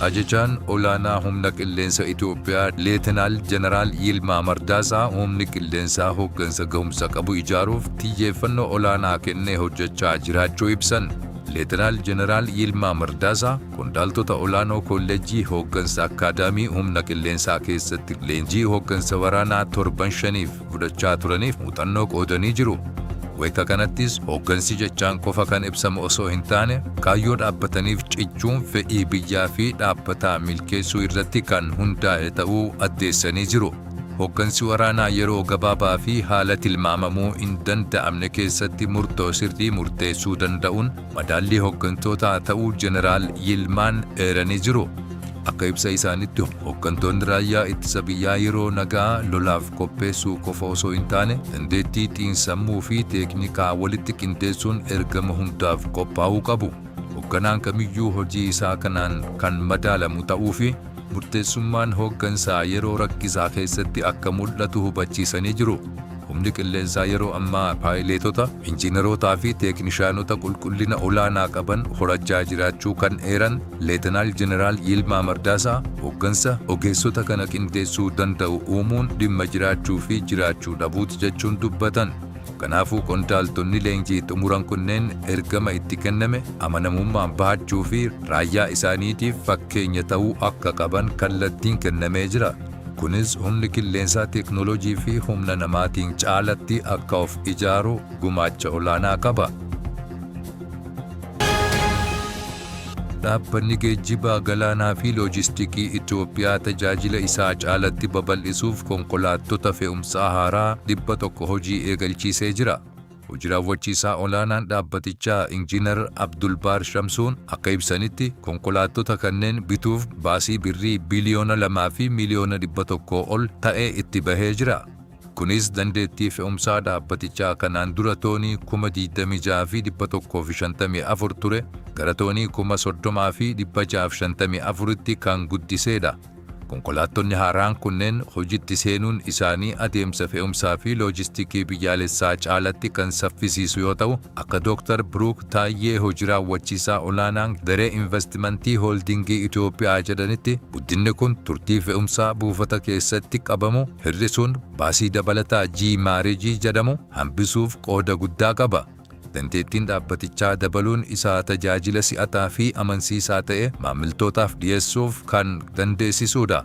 Ajajaan olaanaa humna qilleensa Itoophiyaa Leetenaal Jeneraal Yilmaa Mardaasaa humni qilleensaa hooggansa gahumsa qabu ijaaruuf xiyyeeffannoo olaanaa kennee hojjechaa jiraachuu ibsan. Leetenaal Jeneraal Yilmaa Mardaasaa qondaaltota olaanoo Koolleejjii Hooggansa Akkaadaamii Humna Qilleensaa keessatti leenjii hooggansa waraanaa torban shaniif fudhachaa turaniif muuxannoo qoodanii jiru. Wayita kanattis hooggansi jechaan qofa kan ibsamu osoo hin taane kaayyoo dhaabbataniif cichuun fedhii biyyaa fi dhaabbataa milkeessuu irratti kan hundaa'e ta'uu addeessanii jiru. Hooggansi waraanaa yeroo gabaabaa fi haala tilmaamamuu hin danda'amne keessatti murtoo sirrii murteessuu danda'uun Madaallii hoggantootaa ta'uu Jeneraal Yilmaan eeranii jiru. Akka ibsa isaanitti hooggantoonni raayyaa ittisa biyyaa yeroo nagaa lolaaf qopheessuu qofa osoo hin taane dandeettii xiinsammuu fi teeknikaa walitti qindeessuun ergama hundaaf qophaa'uu qabu. Hoogganaan kamiyyuu hojii isaa kanaan kan madaalamu ta'uu fi murteessummaan hooggansaa yeroo rakkisaa keessatti akka mul'atu hubachiisanii jiru. Humni qilleensaa yeroo ammaa paayileetota, injiinarootaa fi teeknishaanota qulqullina olaanaa qaban horachaa jiraachuu kan eeran Leetanaal Jeneraal Yilmaa Mardaasaa, hooggansa ogeessota kana qindeessuu danda'u uumuun dhimma jiraachuu fi jiraachuu dhabuuti jechuun dubbatan. Kanaafuu qondaaltonni leenjii xumuran kunneen ergama itti kenname amanamummaan bahachuu fi raayyaa isaaniitiif fakkeenya ta'uu akka qaban kallattiin kennamee jira. Kunis humni qilleensaa teeknooloojii fi humna namaatiin caalatti akka of ijaaru gumaacha olaanaa qaba. Dhaabbanni Geejjiba Galaanaa fi Loojistikii Itoophiyaa tajaajila isaa caalatti babal'isuuf konkolaattota fe'umsaa haaraa 100 hojii eegalchiisee jira. Hoji Raawwachiisaa Olaanaan dhaabbatichaa Injiinar Abdulbaar Shamsuun akka ibsanitti, konkolaattota kanneen bituuf baasii Birrii biiliyoona 2 fi miiliyoona 100 ol ta'e itti bahee jira. Kunis dandeettii fe'umsaa dhaabbatichaa kanaan dura toonii 26,154 ture gara toonii 30,654tti kan guddiseedha. Konkolaattonni haaraan kunneen hojitti seenuun isaanii adeemsa fe'umsaa fi loojistikii biyyaalessaa caalatti kan saffisiisu yoo ta'u, Akka Dooktar Biruuk Taayyee Hoji Raawwachiisaa Olaanaan Garee Invastimantii Hooldiingii Itoophiyaa jedhanitti, guddinni kun turtii fe'umsaa buufata keessatti qabamu hir'isuun baasii dabalataa G-Maareejii jedhamu hambisuuf qooda guddaa qaba. Dandeettiin dhaabbatichaa dabaluun isaa tajaajila si'ataa fi amansiisaa ta'e maamiltootaaf dhiyeessuuf kan dandeessisuudha.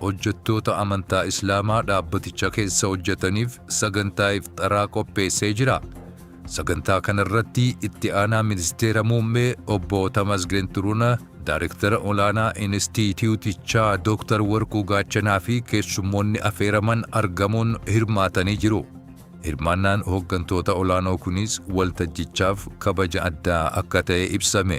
Hojjattoota amantaa Islaamaa dhaabbaticha keessa hojjataniif sagantaa ifxaraa qopheessee jira. Sagantaa kanarratti itti aanaa ministeera muummee obbo Tamasgeen Xuruna, daarektara olaanaa inistiitiyuutichaa Dooktar Warquu Gaachanaa fi keessummoonni afeeraman argamuun hirmaatanii jiru. Hirmaannaan hoggantoota olaanoo kunis waltajjichaaf kabaja addaa akka ta'e ibsame.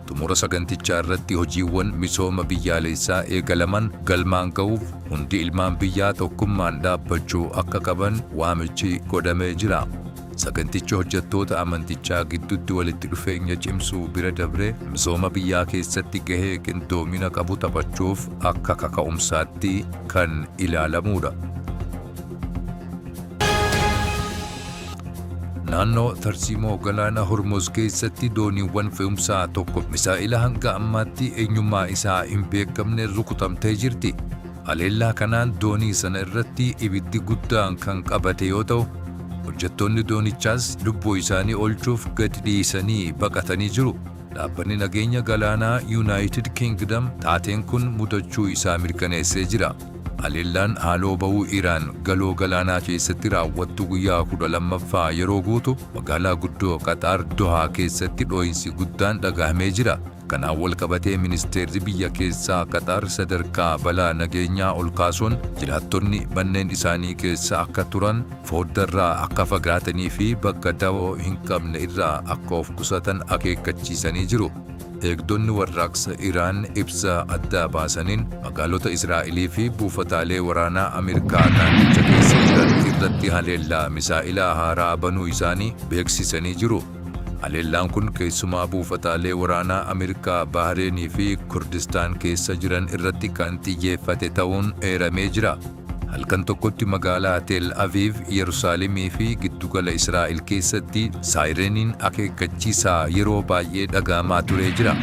Xumura sagantichaa irratti hojiiwwan misooma biyyaaleessaa eegalaman galmaan ga'uuf hundi ilmaan biyyaa tokkummaan dhaabbachuu akka qaban waamichi godhamee jira. Sagantichi hojjattoota amantichaa giddutti walitti dhufeenya cimsuu bira dabree misooma biyyaa keessatti gahee qindoomina qabu taphachuuf akka kaka'umsaatti kan ilaalamuudha. Naannoo tarsiimoo galaana Hormuz keessatti dooniiwwan fe'umsaa tokko misaa'ila hanga ammaatti eenyummaa isaa hin beekamne rukutamtee jirti. Haleellaa kanaan doonii sana irratti ibiddi guddaan kan qabate yoo ta'u, hojjettoonni doonichaas lubbuu isaanii oolchuuf gadi dhiisanii baqatanii jiru. Dhaabbanni nageenya galaanaa Yuunaayitid Kingdam taateen kun mudachuu isaa mirkaneessee jira. Haleellaan haaloo ba'uu Iraan Galoo Galaanaa keessatti raawwattu guyyaa 12ffaa yeroo guutu magaalaa guddoo Qaxaar Dohaa keessatti dhoo'insi guddaan dhagahamee jira. Kanaan wal qabatee ministeerri biyya keessaa Qaxaar sadarkaa balaa nageenyaa ol kaasuun jiraattonni manneen isaanii keessa akka turan, fooddarraa akka fagaatanii fi bakka dawoo hin qabne irraa akka of qusatan akeekkachiisanii jiru. Eegdonni warraaqsa Iraan ibsa addaa baasaniin magaalota Israa'elii fi buufataalee waraanaa Ameerikaa naannicha keessa jiran irratti haleellaa misaa'elaa haaraa banuu isaanii beeksisanii jiru. Haleellaan kun keessumaa buufataalee waraanaa Ameerikaa Bahreenii fi Kurdistaan keessa jiran irratti kan xiyyeeffate ta'uun eeramee jira. Halkan tokkotti magaalaa Tel Aviiv, Yerusaalemii fi giddugala Israa'el keessatti saayireniin akeekkachiisaa yeroo baay'ee dhaga'amaa turee jira.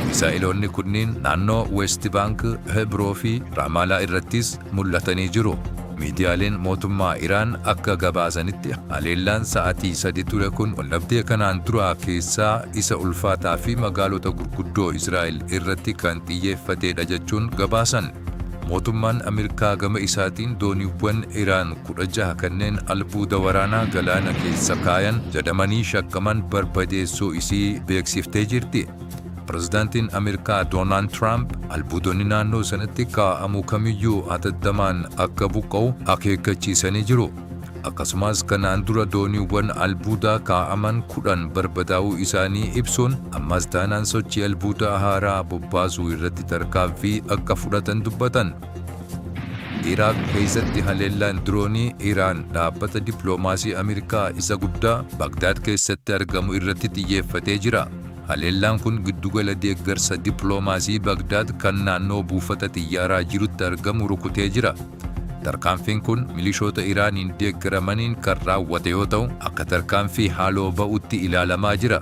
Misaa'eloonni kunniin naannoo Weest Baank, Hebroo fi Raamaalaa irrattis mul'atanii jiru. Miidiyaaleen mootummaa Iraan akka gabaasanitti haleellaan sa'atii sadi ture kun waldhabdee kanaan duraa keessaa isa ulfaataa fi magaalota gurguddoo Israa'el irratti kan xiyyeeffateedha jechuun gabaasan. Mootummaan Ameerikaa gama isaatiin dooniiwwan Iraan 16 kanneen albuuda waraanaa galaana keessa kaayan jedhamanii shakkaman barbadeessuu isii beeksiftee jirti. Pirezidaantiin Ameerikaa Doonaald Tiraamp albuudonni naannoo sanatti kaa'amu kamiyyuu hatattamaan akka buqqa'u akeekkachiisanii jiru. Akkasumas kanaan dura dooniiwwan albuudaa kaa'aman 10 barbadaa'uu isaanii ibsuun ammas taanaan sochii albuudaa haaraa bobbaasuu irratti tarkaanfii akka fudhatan dubbatan. Iraaq keessatti haleellaan diroonii Iraan dhaabbata dippiloomaasii Ameerikaa isa guddaa Bagdaad keessatti argamu irratti xiyyeeffatee jira. Haleellaan kun giddugala deeggarsa dippiloomaasii Bagdaad kan naannoo buufata xiyyaaraa jirutti argamu rukutee jira. Tarkaanfiin kun milishoota Iraaniin deeggaramaniin kan raawwate yoo ta'u, akka tarkaanfii haaloo ba'utti ilaalamaa jira.